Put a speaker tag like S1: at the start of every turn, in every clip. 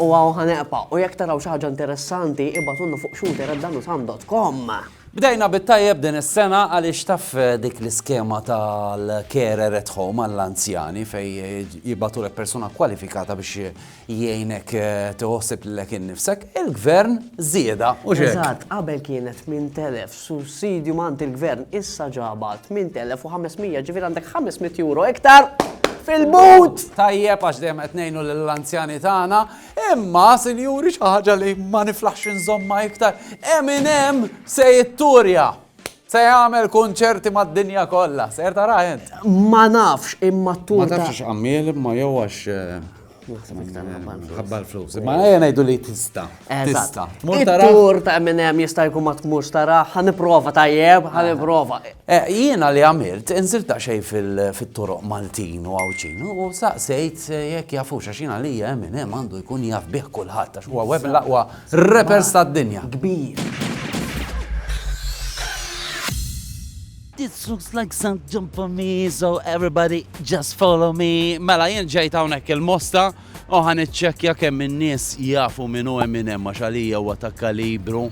S1: U hawn ħa
S2: neqpa' u jekk taraw xi ħaġa interessanti ibgħatulna fuq shooter@danusam.com. Bdejna
S1: bit-tajjeb din is-sena għaliex taf dik l-iskema tal-carer at home għall-anzjani fejn jibgħatulek persuna kwalifikata biex jgħinek tiħossib lilek innifsek, il-Gvern żiedha u x'hekk. Eżatt, qabel
S2: kienet 8,000 Sussidju mant il-Gvern issa ġaba 8,500 ġifieri għandek 500 euro iktar fil-but! Tajjeb għax
S1: dejjem qed ngħinu lill-anzjani tagħna, imma sinjuri xi ħaġa li ma niflaħx inżommha iktar, Eminem se jitturja! Se jagħmel kunċerti mad-dinja kollha, ser tarah int. Ma nafx
S2: imma t-tour. Ma nafx għammiel imma
S1: jew għax eh, Ħabba l-flus. Ma għajja najdu li tista. Tista. Tur ta'
S2: minn hemm jista' jkun ma tmux tara, ħaniprova tajjeb, ħaniprova. Eh, jiena li
S1: għamilt, inżil ta' xej fil-toroq Maltin u għawċin, u saqsejt eh, jekk jafux, għax jiena li eh, minn hemm għandu jkun jaf bih kulħadd, għax huwa web l-aqwa repers tad-dinja. Kbir.
S3: This looks like some jump for me, so everybody just follow me. Mela jien ġejt hawnhekk
S1: il-mosta u ħan iċċekkja kemm in-nies jafu minn u minn hemm għax għalija huwa ta' kalibru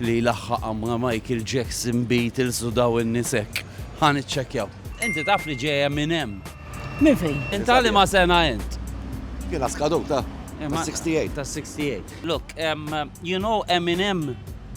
S1: li laħħaq ma' Michael Jackson beat il sudaw in-nies hekk. Ħan iċċekkjaw. Inti taf li ġejja minn hemm. Minn fejn?
S3: Inta li ma sena
S1: int? Jiena skadut
S4: ta' 68. Ta' 68.
S1: Look, um, you know Eminem?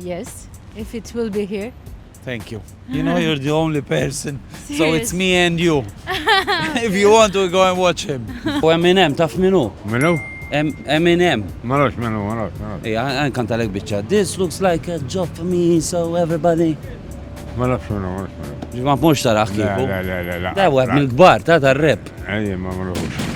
S1: Yes,
S5: if it will be here. Thank you.
S1: You know you're the only person, so it's me and you. if you want to go and watch him. U Eminem, taf minu? Minu?
S6: Eminem.
S1: Marrox minu,
S6: marrox, marrox. Ija,
S1: għan kanta lek bieċa. This looks like a job for me, so everybody. Marrox
S6: minu, marrox minu. Ġimma mux taraħ
S1: kiku. La, la, la, la. Da, għad
S6: mil-gbar,
S1: ta' ta' rep. Ejja, ma marrox.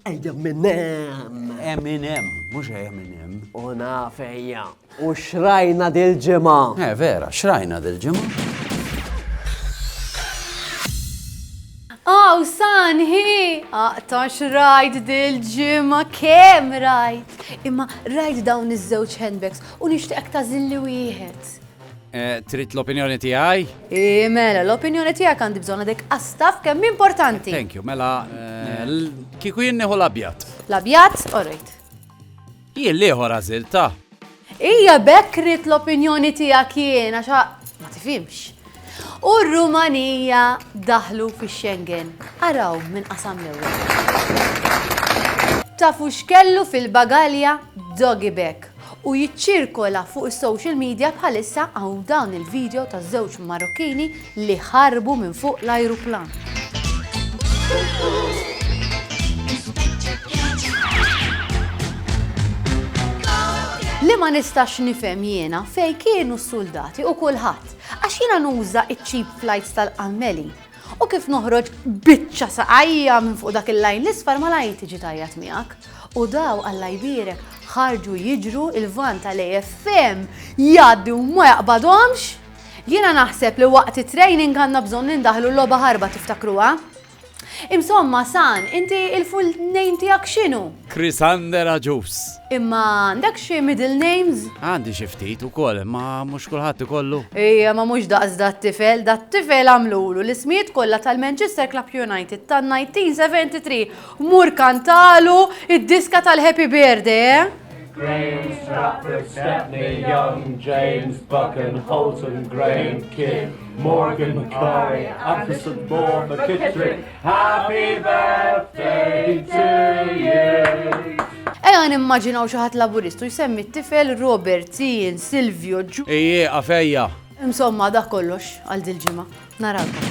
S2: Ejja minn hemm! Eminem, mhux ejja
S1: minn hemm. U naf
S2: ejja. U xrajna dil-ġimgħa. Eh, vera, xrajna
S1: dil-ġimgħa.
S5: Aw, sanħi! Aqta xrajt dil-ġimgħa kemm rajt. Imma rajt dawn iż-żewġ handbags u nixtieqek tażilli wieħed. Eh, trid
S1: l-opinjoni tiegħi? Eh, mela,
S5: l-opinjoni tiegħek għandi bżonna dek astaf kemm importanti. Thank you, mela
S1: eh, kieku jien nieħu l-abjad. L-abjad, orrejt. Jien liħor għażilta. Ija
S5: bekk rrit l-opinjoni tiegħek jien għax ma tifhimx. U r-Rumanija daħlu fi Schengen. Araw minn qasam l-ewwel. Tafu x'kellu fil-bagalja doggy bag. u jiċċirkola fuq is-social media bħalissa hawn dawn il-video ta' żewġ Marokkini li ħarbu minn fuq l-ajruplan. Li ma nistax nifhem jiena fej kienu s-suldati u kulħadd għax jiena nuża iċ-cheap flights tal-qammeli. U kif noħroġ biċċa saqajja minn fuq dak il-lajn l-isfar malajr tiġi tajjat miegħek. U daw Alla jbierek ħarġu jiġru il-van tal-AFM jgħaddi u ma jaqbadhomx. Jiena naħseb li waqt it-training għandna bżonn nindaħlu l-logħba ħarba tiftakruha. Imsomma, San, inti il-full name tiegħek x'inhu? Chrisander
S1: Agius. Imma għandek
S5: xi middle names? Għandi xi ftit
S1: ukoll, imma mhux kulħadd ikollu. Ejja, ma mhux daqs
S5: dat-tifel, dat-tifel għamlulu l-ismijiet kollha tal-Manchester Club United tan-1973. Mur kantalu id-diska tal-Happy Birthday, eh? Graham, Stratford,
S7: Stepney, Young, James, Buchan, Holton, Graham, Kidd, Morgan, Curry, Atkinson, Moore, McKittrick, Happy birthday to you. Eja
S5: nimmaġinaw xi ħadd laburistu jsemmi t-tifel Robert, Ian, Silvio, Ġu. Ejje, għafejja.
S1: Insomma, dak
S5: kollox għal dil-ġimgħa. Narawkom.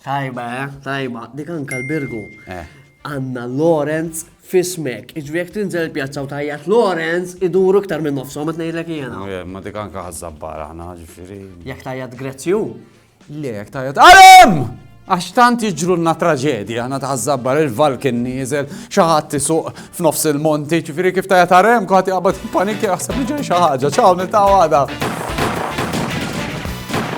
S2: Tajba, eh? Tajba. Dik anka l-Birgu. Eh. Anna Lorenz f'ismek. Jiġifieri jekk tinżel il-pjazza u tgħajjat Lawrence, iduru iktar minn nofshom qed ngħidlek jiena. Ma dik anke
S1: ħaż-żabbar aħna, ġifieri. Jekk tgħajjat Grezju?
S2: Le, jekk
S1: tgħajjat Alem! Għax tant jiġrulna traġedji aħna ta' żabbar il-valkin nieżel xi ħadd isuq f'nofs il-monti, ġifieri kif tgħajjat Alem kulħadd jaqbad panikja jaħseb li ġej xi ħaġa. Ċaw niltaqgħu għada.